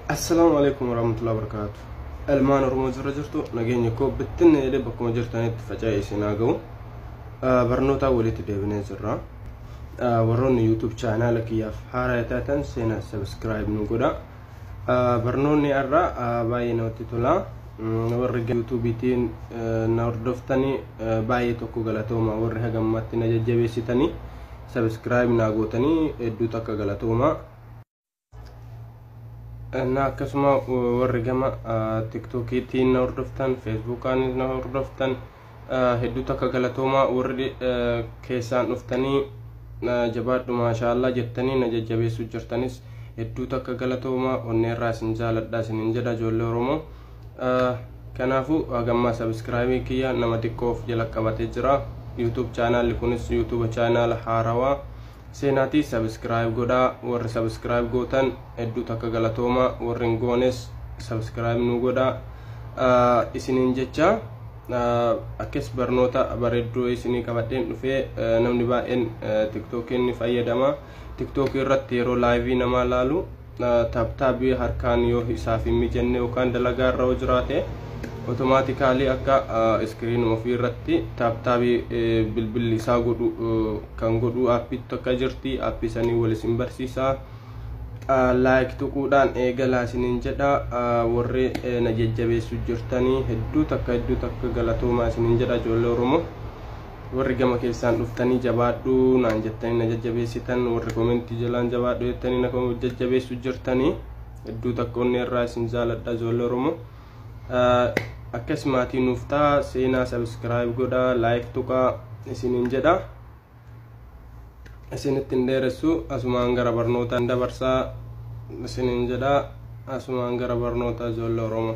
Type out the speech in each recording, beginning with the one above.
Assalaamu alaikum warahmatullahi wabarakatuh. Ilmaan Oromoo jirra jirtu nageenyi koo bittinna jedhee bakkuma jirtanitti faca'ee isin haa ga'u. Barnootaa walitti deebinee jirra. Warroonni YouTube chaanaala kiyyaaf haaraa taatan seenaa subscribe nu godha. Barnoonni har'aa baay'ee namatti tola. Warri YouTubetiin na hordoftanii baay'ee tokko galatooma warri haga ammaatti na jajjabeessitanii subscribe naa gootanii hedduu takka galatooma. na akkasuma warri gama tiktokiitiin na hordoftan feesbuukaanis na hordoftan hedduu takka galatoomaa warri keessaan dhuftanii jabaadhu maashaallaa jettanii na jajjabeessuu jirtanis hedduu takka galatoomaa onneerraa isin jaaladha isinin jedha ijoollee oromoo kanaafuu hagammaa sabiskiraabii kiyya nama xiqqoof jala qabatee jira yuutuub chaanaali kunis yuutuuba chaanaala haarawaa Seenaati subscribe godhaa warri subscribe gootan hedduu takka galatooma warri hin goones subscribe nuu godhaa isiniin jecha akkas barnoota bareedduu isinii qabadheen dhufee namni baay'een tiktokiin ni fayyadama tiktookii irratti yeroo laayivii namaa laalu taaptaabii harkaan yoo isaaf hin mijanne yookaan dalagaa irra yoo jiraate otomaatikaalii akka iskiriinuma ofii irratti taaptaabii bilbilli isaa godhu kan godhu aappiitti akka jirti aappii sanii wal isin barsiisaa laayik tuquudhaan eegalaa isiniin jedha warri na jajjabeessu jirtanii hedduu takka hedduu takka galatoomaa isiniin jedha ijoollee oromoo warri gama keessaan dhuftanii jabaadhu naan jettanii na jajjabeessitan warri komentii jalaan jabaadhu jettanii na kom- jajjabeessu jirtanii hedduu takka onnee irraa isin jaaladha ijoollee oromoo Ah, akkas maatii nuuf ta'a seenaa sabiskiraayib godha laayik tuqaa isiniin jedha isinitti hin dheeressu asumaan gara barnootaan dabarsaa isiniin jedha asumaan gara barnootaa ijoollee oromoo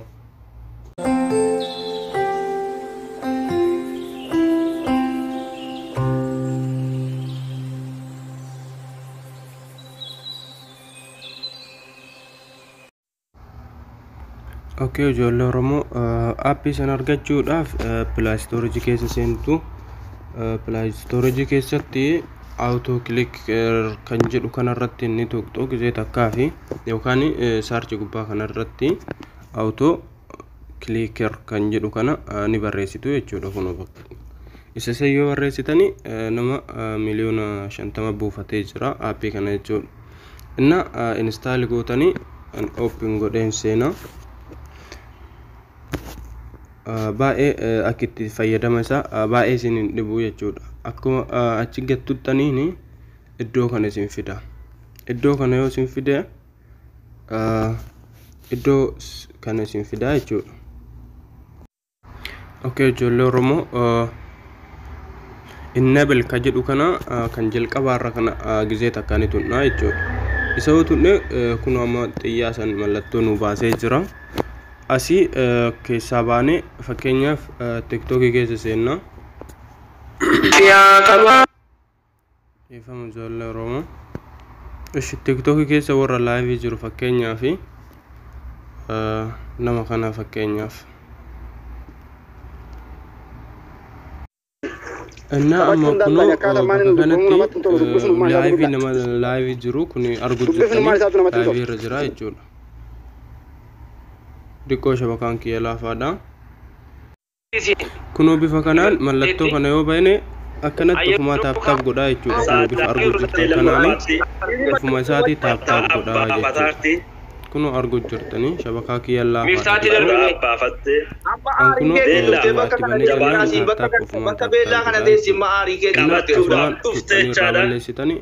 Okkee ijoollee Oromoo aappii sana argachuudhaaf pilaastoorijii keessa seentu. Pilaastoorijii keessatti awutoo kilik kan jedhu kanarratti ni tuqxu gizee takkaa fi yookaan saarchi gubbaa kanarratti. auto clicker kan jedhu kana ni barreessitu jechuudha kun isa san yoo barreessitani nama miliyoona shantama buufatee jira aappii kana jechuudha inna instaali gootanii open godheen seenaa baay'ee akka itti fayyadama isaa baay'ee isin hin dhibu jechuudha akkuma achi gattuttaniin iddoo kana isin fida iddoo kana yoo isin fide iddoo kana isin fidaa jechuudha. Okay ijoollee Oromoo innabel ka jedhu kana kan jalqabaa irra kana gizee takka ni tunnaa jechuudha. Isa yoo tunne kun amma xiyyaa san mallattoo nu baasee jira. Asii keessaa baanee fakkeenyaaf tiktookii keessa seennaa. Dhiifama ijoollee Oromoo. Ishi tiktoki keessa warra laayivii jiru fakkeenyaa fi nama kana fakkeenyaaf. Innaa amma kunoo bakka kanatti laayivii nama laayivii jiru kun argu jirtanii laayivii irra jira jechuudha. Diqqoo shabakaan kiyya laafaadha. Kunoo bifa kanaan mallattoo kana yoo bane akkanatti ofumaa taap taap godhaa jechuudha. Kunoo bifa arguu jirtan kanaanii ofuma isaatii taap taap godhaa jechuudha. Kunoo arguu jirtanii shabakaa kiyya laafaadha jechuudha. Kan kunoo itti banee jennaan taap taap ofumaa taap taap godhaa jechuudha. Innaa asumaan tuqxanii irraa balleessitanii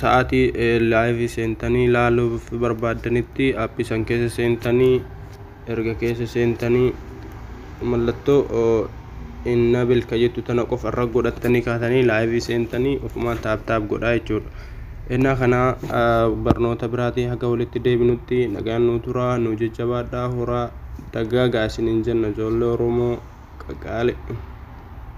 sa'aatii live seentanii ilaaluuf barbaaddanitti appii san keessa seentanii erga keessa seentanii mallattoo innabil ka jettu tana qofa irra godhattanii kaatanii live seentanii ofumaan taap taap godhaa jechuudha. Innaa kana barnoota biraatii haga walitti deebinutti nagaan nuu turaa nuu jajjabaadhaa horaa dagaagaa isiniin jenna ijoollee Oromoo qaqaali.